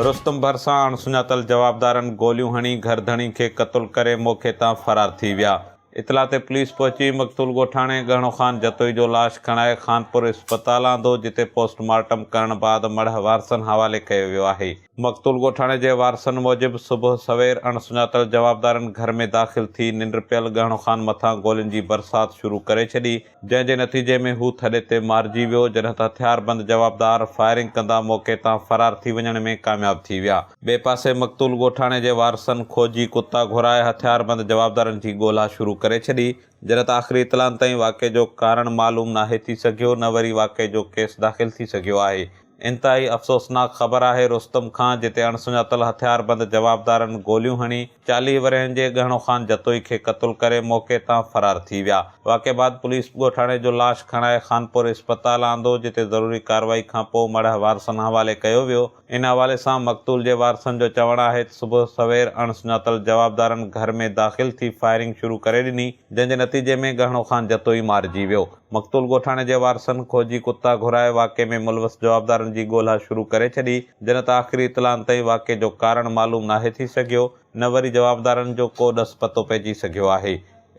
رستم ڀرسان اڻ سڃاتل جوابدارن گوليون هڻي گهر ڌڻي کي قتل ڪري موقعي تان فرار ٿي ويا. اطلاع تي پوليس پهچي مقتول ڳوٺاڻي ڳهڻو خان جتوئي جو لاش کڻائي خانپور اسپتال آندو جتي پوسٽ مارٽم ڪرڻ بعد مڙهه وارثن حوالي ڪيو ويو آهي. مقتول ڳوٺاڻي جي وارثن موجب صبح سوير اڻ سڃاتل جوابدارن گهر ۾ داخل ٿي ننڊ پيل ڳهڻو خان مٿان گولين جي برسات شروع ڪري ڇڏي جنهن جي نتيجي ۾ هو ٿڏي تي مارجي ويو جڏهن ته هٿياربند جوابدار فائرنگ ڪندا موقعي تان فرار ٿي وڃڻ ۾ ڪامياب ٿي ويا. ٻئي پاسي مقتول ڳوٺاڻي جي وارثن کوجي ڪتا گهرائي هٿياربند جوابدارن جي ڳولا شروع ڪري ڇڏي جڏهن ته آخري اطلاعن تائين واقعي جو ڪارڻ معلوم ناهي ٿي سگهيو نه وري واقعي جو ڪيس داخل ٿي سگهيو آهي. انتهائي افسوسناڪ خبر آهي رستم کان جتي اڻسڃاتل هٿياربند جوابدارن گوليون هڻي چاليهه ورهين جي ڳهڻو خان جتوئي کي قتل ڪري موقعي تان فرار ٿي ويا. واقعي بعد پوليس ڳوٺاڻي جو لاش کڻائي خانپور اسپتال آندو جتي ضروري ڪارروائي کانپوء مڙهه وارثن حوالي ڪيو ويو. ان حوالي سان مقتول جي وارثن جو چوڻ آهي ته صبح سوير اڻ سڃاتل جوابدارن گهر ۾ داخل ٿي فائرنگ شروع ڪري ڏني جنهن جي نتيجي ۾ ڳهڻو خان جتوئي مارجي ويو مقتول ڳوٺاڻي جي وارثن کوجي ڪتا گهرائي واقعي ۾ ملوث جوابدارن جي ڳولها شروع ڪري ڇڏي جنهن ته آخري اطلاعن تائين واقعي جو ڪارڻ معلوم ناهي ٿي سگهيو نه وري جوابدارن جو ڪو ڏس پتو پئجي سگهيو آهي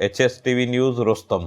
H S T V news Rustam